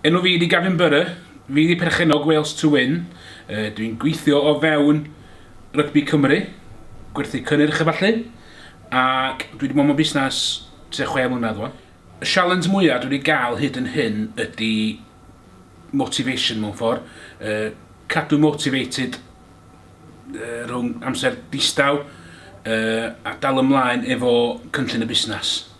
Enw fi ydi Gavin Burrough, fi ydi perchennog Wales to Win, uh, dwi'n gweithio o fewn rygbi Cymru, gwerthu cynnyrch a falle, ac dwi wedi bod mewn busnes tua chwe mlynedd o'n. Y sialens mwyaf dwi wedi gael hyd yn hyn ydy motivation mewn ffordd, uh, cadw motivated uh, rhwng amser distaw uh, a dal ymlaen efo cynllun y busnes.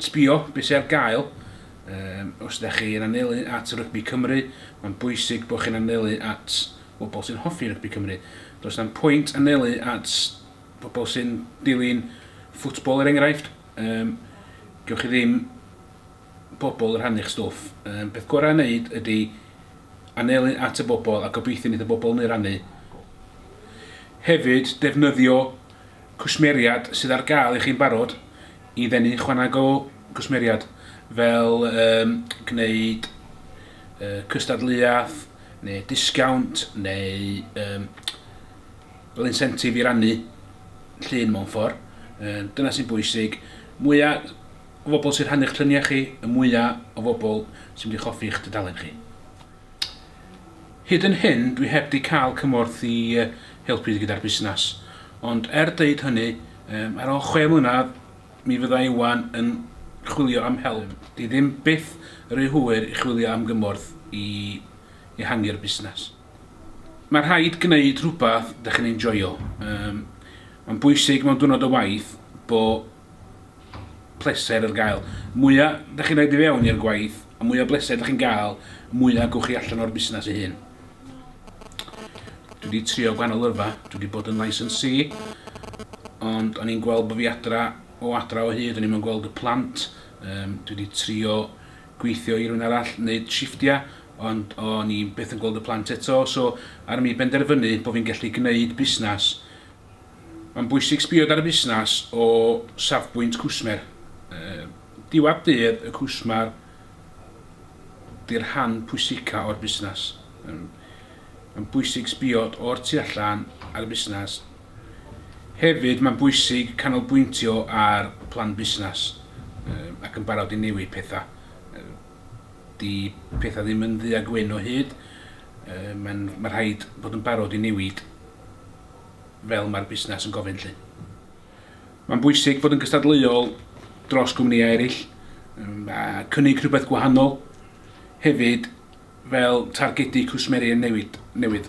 Sbio be sy ar gael, Yym, os ydych chi yn anelu at rygbi Cymru, mae'n bwysig bod chi'n anelu at bobl sy'n hoffi rygbi Cymru. Does na'm pwynt anelu at bobl sy'n dilyn ffwtbol er enghraifft, yym, gewch chi ddim bobl yn rhannu'ch stwff. Yym, peth gorau i wneud ydy anelu at y bobl a gobeithio wneith y bobl 'ny rannu. Hefyd, defnyddio cwsmeriaid sydd ar gael i chi'n barod i ddenu chwanag o gwsmeriaid fel um, gwneud uh, cystadleuaeth neu disgawnt neu um, fel incentive i rannu llun mewn ffordd. Uh, dyna sy'n bwysig. Mwyaf o bobl sy'n rhannu'ch lluniau chi, y mwyaf o bobl sy'n mynd i choffi'ch tudalen chi. Hyd yn hyn dwi heb di cael cymorth i helpu gyda'r busnes, ond er deud hynny, ar ol chwe mlynedd mi fydda i wan yn chwilio am help. Di ddim byth ry hwyr i chwilio am gymorth i ehangu'r busnes. Mae rhaid gneud rhywbeth dych chi'n enjoio. Mae'n bwysig mewn diwrnod o waith bo pleser ar gael. Mwya da chi'n rhaid i fewn i'r gwaith, a mwya bleser da chi'n gael, mwya gwch chi allan o'r busnes ei hun. Dwi wedi trio gwahanol yrfa, dwi wedi bod yn licensee, ond o'n i'n gweld bod fi adra o adra o hyd, o'n i'n gweld y plant, um, dwi wedi trio gweithio i rhywun arall, wneud shifftiau, ond o'n i'n beth yn gweld y plant eto, so ar mi benderfynu bod fi'n gallu gwneud busnes Mae'n bwysig sbio dan y busnes o safbwynt cwsmer. Diwadd dydd y cwsmer di'r rhan pwysica o'r busnes. Mae'n bwysig sbio o'r tu allan ar y busnes. Hefyd mae'n bwysig canolbwyntio ar plan busnes ac yn barod i newid pethau. Di pethau ddim yn ddu a gwyn o hyd, mae rhaid bod yn barod i newid. fel mae'r busnes yn gofyn 'lly. Mae'n bwysig bod yn gystadleuol dros gwmnïau eraill a cynnig rhywbeth gwahanol hefyd fel targedu cwsmeriaid newydd.